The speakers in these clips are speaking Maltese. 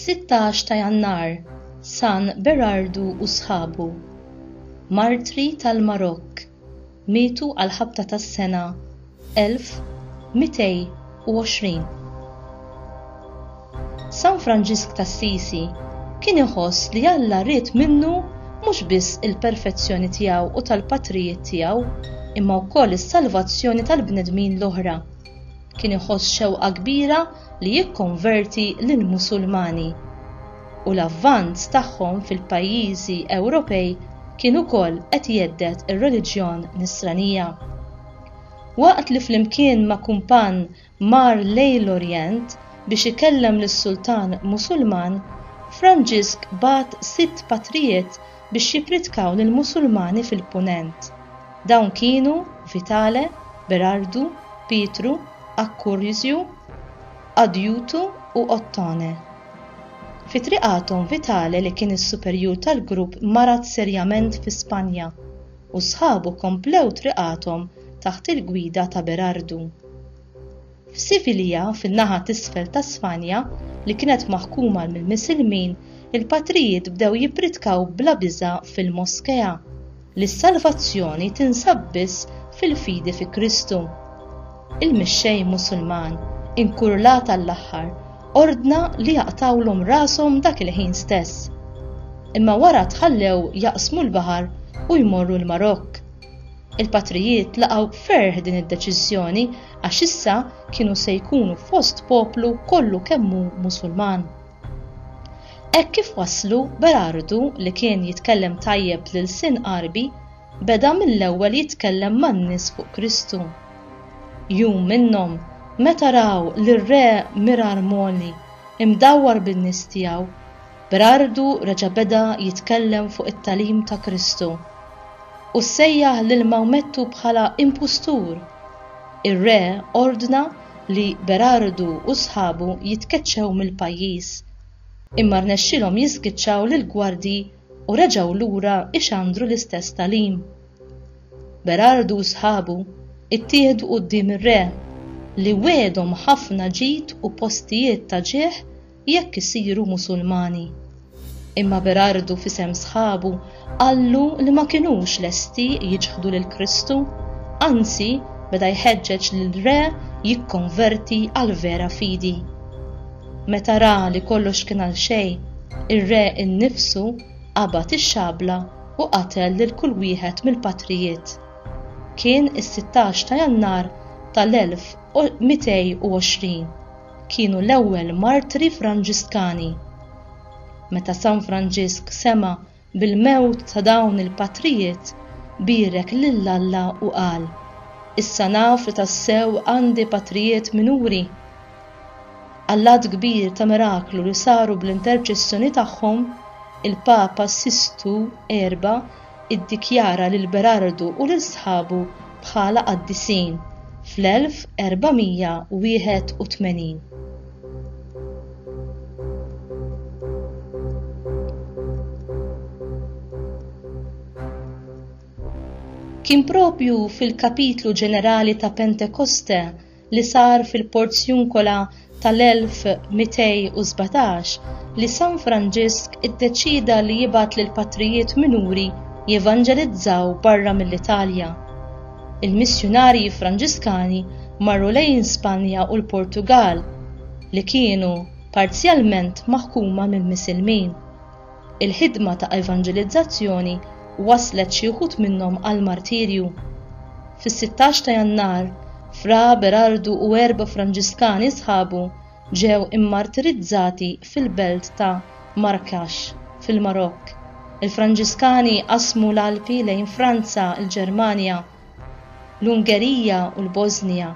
Sittax ta' Jannar San Berardu u sħabu Martri tal-Marokk mietu għall-ħabta tas-sena 1220. San Franġisk t'Assisi kien iħoss li Alla ried minnu mhux biss il-perfezzjoni tiegħu u tal-patrijiet tiegħu, imma wkoll is-salvazzjoni tal-bnedmin l-oħra. Kien iħoss xewqa kbira li jikkonverti lill-Musulmani. u l-avvanz tagħhom fil-pajjiżi Ewropej kien ukoll qed jhedded ir-reliġjon Nisranija. Waqt li flimkien ma' kumpann mar lejn l-Orjent biex ikellem lis-sultan Musulman, Franġisk bagħat sitt patrijiet biex jippritkaw lill-Musulmani fil-Punent. Dawn kienu Vitale, Berardu, Pietru, Accursio, Adjutu u Ottone. Fi triqathom Vitale li kien is-superjur tal-grupp marad serjament fi Spanja u sħabu komplew triqathom taħt il-gwida ta' Berardu. F'Sivilja fin-naħa t'isfel ta' Spanja li kienet maħkuma mill-Misilmin il-patrijiet bdew jippritkaw bla biża' fil-moskea. li s-salvazzjoni tinsab biss fil-fidi fi Kristu. Il-mixxej Musulman, inkurlat għall-aħħar, ordna li jaqtgħulhom rashom dak il-ħin stess. Imma wara tħallew jaqsmu l-baħar u jmorru l-Marokk. Il-patrijiet laqgħu b'ferħ din id-deċiżjoni għax issa kienu se jkunu fost poplu kollu kemm hu Musulman. Hekk kif waslu, Berardu, li kien jitkellem tajjeb l-ilsien Għarbi, beda mill-ewwel jitkellem man-nies fuq Kristu. Jum minnhom, meta raw lir-re Mirarmoli imdawwar bin-nies tiegħu, Berardu reġa' beda jitkellem fuq it-tagħlim ta' Kristu, u sejjaħ lil Mawmettu bħala impustur. Ir-re ordna li Berardu u sħabu jitkeċċew mill-pajjiż, imma rnexxielhom jiżgiċċaw lill-gwardji u reġgħu lura ixandru l-istess tagħlim. Berardu u sħabu ttieħdu quddiem ir-re, li wiegħdhom ħafna ġid u postijiet ta' ġieħ Jekk isiru Musulmani. Imma Berardu f'isem sħabu qallu li ma kinux lesti jiċħdu lil Kristu, anzi beda jħeġġeġ lill-Re jikkonverti għall-vera fidi. Meta ra li kollox kien għal xejn, ir-Re innifsu qabad ix-xabla u qatel lil kull wieħed mill-patrijiet. Kien is-sittax ta' Jannar tal-1220. kienu l-ewwel martri Franġiskani. Meta San Franġisk sema' bil-mewt ta' dawn il-patrijiet, bierek lil Alla u qal, Issa naf li tassew għandi patrijiet minuri. Għall-għadd kbir ta' miraklu li saru bl-interċessjoni tagħhom, il-Papa Sistu Erba' iddikjara lil Berardu u lil sħabu bħala qaddisin fl-1481. Kien proprju fil-kapitlu ġenerali ta' Pentekoste li sar fil-Porziuncola tal-1217 li San Franġisk iddeċieda li jibgħat lill-patrijiet minuri jevanġelizzaw barra mill-Italja. Il-missjunarji Franġiskani marru lejn Spanja u l-Portugall, li kienu parzjalment maħkuma mill-Misilmin. Il-ħidma ta' evanġelizzazzjoni wasslet xi wħud minnhom għall-martirju. Fis-16 ta' Jannar, Fra Berardu u erba' Franġiskani sħabu ġew immartirizzati fil-belt ta' Marrakesh, fil-Marokk. Il-Franġiskani qasmu l-Alpi lejn Franza, il-Ġermanja, l-Ungerija u l-Bożnija,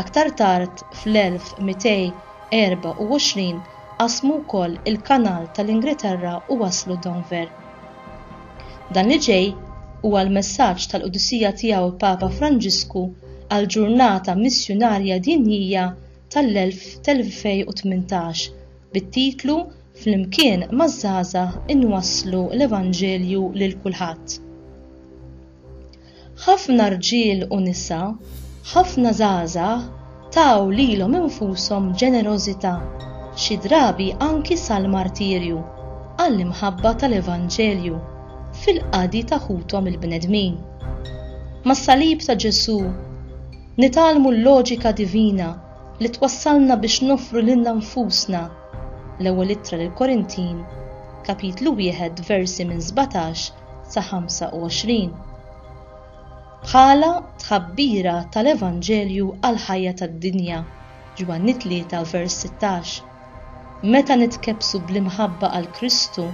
aktar tard fl-1224 qasmu wkoll il-Kanal tal-Ingilterra u waslu Denver. Dan li ġej huwa l-messaġġ tal-qdusija tiegħu l-Papa Franġisku għall-Ġurnata Missjunarja Dinjija tal-2018 bit-titlu Flimkien maż-Żgħażagħ Inwasslu l-Evanġelju lil Kulħadd. Ħafna rġiel u nisa, ħafna żgħażagħ taw lilhom infushom b'ġenerożità, xi drabi anki sal-martirju, għall-imħabba tal-Evanġelju, fil-qadi ta' ħuthom il-bnedmin. Mas-salib ta' Ġesù, nitgħallmu l-loġika divina li twassalna biex noffru lilna nfusna, L-Ewwel Ittra lill-Korintin, Kapitlu wieħed, versi minn sbatax sa 25 bħala tħabbira tal-Evanġelju għall-ħajja tad-dinja, Ġwanni 3 vers 16. Meta nitkebbsu bl-imħabba għal Kristu,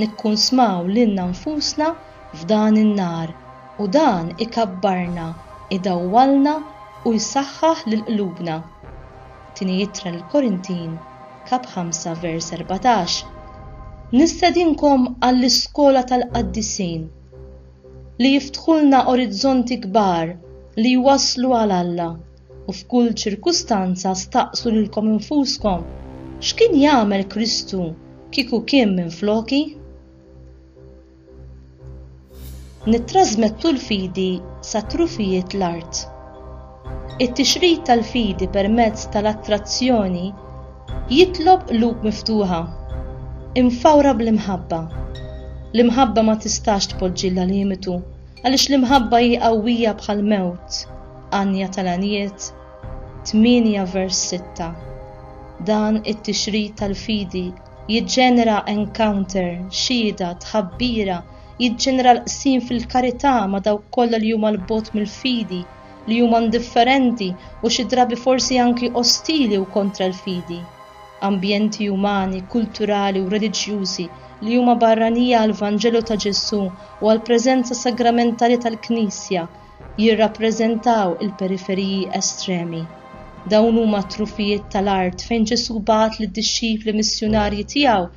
nikkunsmaw lilna nfusna f'dan in-nar u dan ikabbarna, idawwalna u jsaħħaħ lil qlubna. Tieni Ittra lill-Korintin, kap. 5, vers. 14, Nistedinkom għall-iskola tal-qaddisin, li jiftħulna orizzonti kbar li jwasslu għal Alla, u f'kull ċirkustanza staqsu lilkom infuskom, X'kien jagħmel Kristu kieku kien minfloki? Nittrażmettu l-fidi sa trufijiet l-art. It-tixrid tal-fidi permezz tal-attrazzjoni jitlob qlub miftuħa, imfawra bl-imħabba. L-imħabba ma tistax tpoġġilha limitu, għaliex l-imħabba hi qawwija bħal mewt. Għanja tal-għanijiet 8 vers 6. Dan it-tixrid tal-fidi Jiġġenera encounter, xhieda, tħabbira, jiġġenera l-qsim fil-karità ma' dawk kollha li huma 'l bogħod mill-fidi, li huma indifferenti u xi drabi forsi anki ostili u kontra l-fidi. Ambjenti umani, kulturali u reliġjużi li huma barranija għall-Vanġelu ta' Ġesù u għall-preżenza sagramentali tal-Knisja, jirrappreżentaw il-periferiji estremi. Dawn huma t-trufijiet tal-art fejn Ġesù bagħat lid-dixxipli missjunarji tiegħu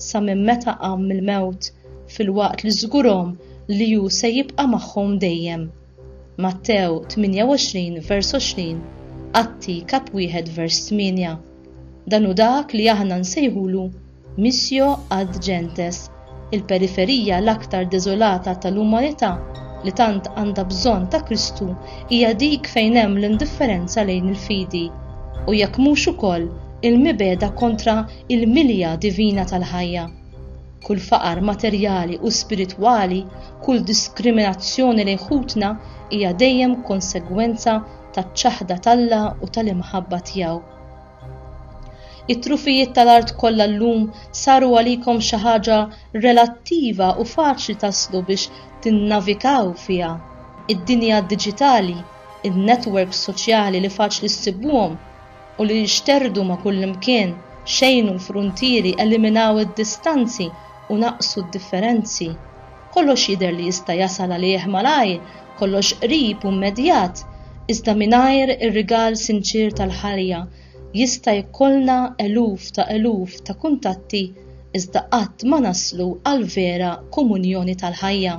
sa minn meta qam mill-mewt, filwaqt li żgurhom li hu se jibqa' magħhom dejjem. Mattew 28 vers 20, Atti kap 1 vers 8. Dan hu dak li aħna nsejħulu missio ad gentes, il-periferija l-aktar deżolata tal-umanità li tant għandha bżonn ta' Kristu hija dik fejn hemm l-indifferenza lejn il-fidi, u jekk mhux ukoll il-mibegħda kontra l-milja divina tal-ħajja. Kull faqar materjali u spiritwali, kull diskriminazzjoni lejn ħutna hija dejjem konsegwenza taċ-ċaħda t'Alla u tal-imħabba tiegħu. It-trufijiet tal-art kollha llum saru għalikom xi ħaġa relattiva u faċli taslu biex tinnavikaw fiha. Id-dinja diġitali, in-netwerks soċjali li faċli ssibuhom u li jixterdu ma' kullimkien, xejnu l-fruntieri, eliminaw id-distanzi u naqsu d-differenzi. Kollox jidher li jista' jasal għalih malajr kollox qrib u mmedjat iżda mingħajr ir-rigal sinċier tal-ħajja jista' jkollna eluf ta' eluf ta' kuntatti iżda qatt ma naslu għall-vera komunjoni tal-ħajja.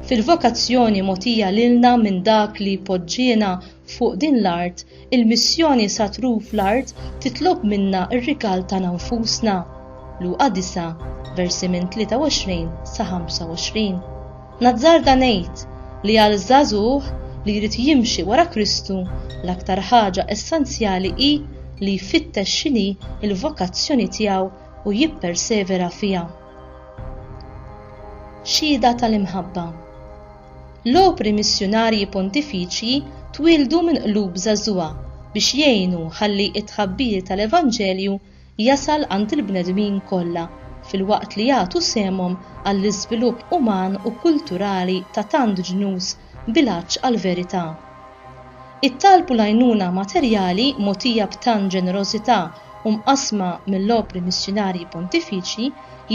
Fil-vokazzjoni mogħtija lilna minn Dak li poġġiena fuq din l-art Il-missjoni sa truf l-art titlob minna r-rikal tagħna nfusna, Luqa 9, versi minn 23 sa 25. Nazzarda ngħid li għal żagħżugħ li jrid jimxi wara Kristu l-aktar ħaġa essenzjali hi li jfittex x'inhi l-vokazzjoni tiegħu u jippersevera fiha. Xhieda tal-imħabba. L-opri missjunarji Pontifiċji twieldu minn qlub żagħżugħa biex jgħinu ħalli t-tħabbir tal-Evanġelju jasal għand il-bnedmin kollha filwaqt li jagħtu sehemhom għall-iżvilupp uman u kulturali ta' tant ġnus b'ilgħaġġ għall-verità. Ittalbu l-għajnuna materjali mogħtija b'tant ġenerożità u mqassma mill-Opri Missjunarji Pontifiċi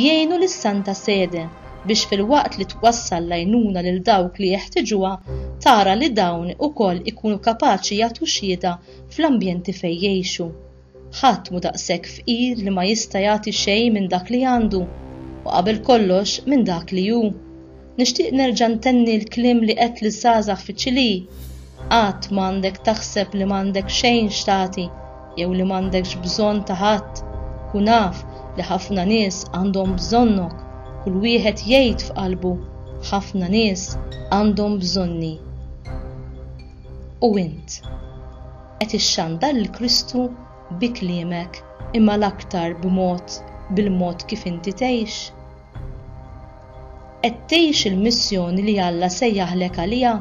jgħinu lis-Santa Sede biex filwaqt li twassal l-għajnuna lil dawk li jeħtieġuha tara li dawn ukoll ikunu kapaċi jagħtu xhieda fl-ambjenti fejn jgħixu. Ħadd mhu daqshekk fqir li ma jista' jagħti xejn minn dak li għandu, u qabel kollox minn dak li hu. Nixtieq nerġa' ntenni l-kliem li għedt liż-żgħażagħ fiċ-Ċilì, Qatt m'għandek taħseb li m'għandek xejn x'tagħti jew li m'għandekx bżonn ta' ħadd. Kun af li ħafna nies għandhom bżonnok. Kull wieħed jgħid f'qalbu, Ħafna nies għandhom bżonni. U int? qed ixxandar lil Kristu bi kliemek imma l-aktar b'mod bil-mod kif inti tgħix? Qed tgħix il-missjoni li Alla sejjaħlek għaliha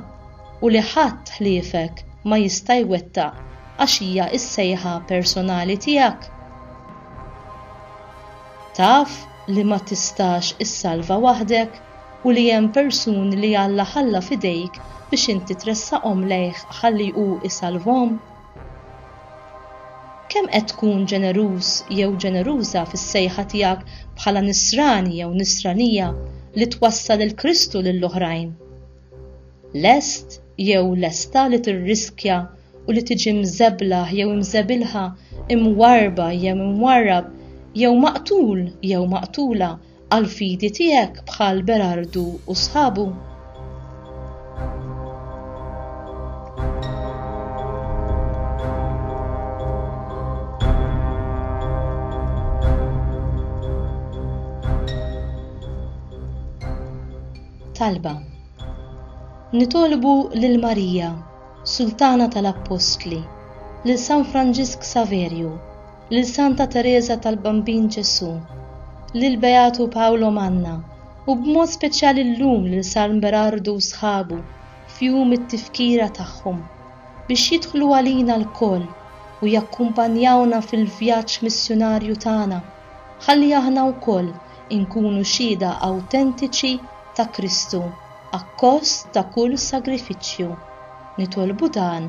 u li ħadd ħliefek ma jista' jwettaq għax hija s-sejħa personali tiegħek? Taf li ma tistax issalva waħdek? u li hemm persuni li Alla ħalla f'idejk biex inti tressaqhom lejh ħalli hu jsalvhom? Kemm qed tkun ġeneruż jew ġeneruża fis-sejħa tiegħek bħala nisrani jew nisranija li twassal il-Kristu lil oħrajn? Lest jew lesta li tirriskja u li tiġi mżeblaħ jew imżebilħa, imwarrba jew imwarrab, jew maqtul jew maqtula għall-fidi tiegħek bħal Berardu u sħabu? talba. Nitolbu lil Marija, Sultana tal-Appostli, lil San Franġisk Saverju, lil Santa Tereża tal-Bambin Ġesù, lil Beatu Paolo Manna u b'mod speċjali llum lil San Berardu u sħabu f'jum it-tifkira tagħhom, biex jidħlu għalina lkoll u jakkumpanjawna fil-vjaġġ missjunarju tagħna ħalli aħna wkoll inkunu xhieda awtentiċi ta' Kristu akkost ta' kull sagrifiċċju. Nitolbu dan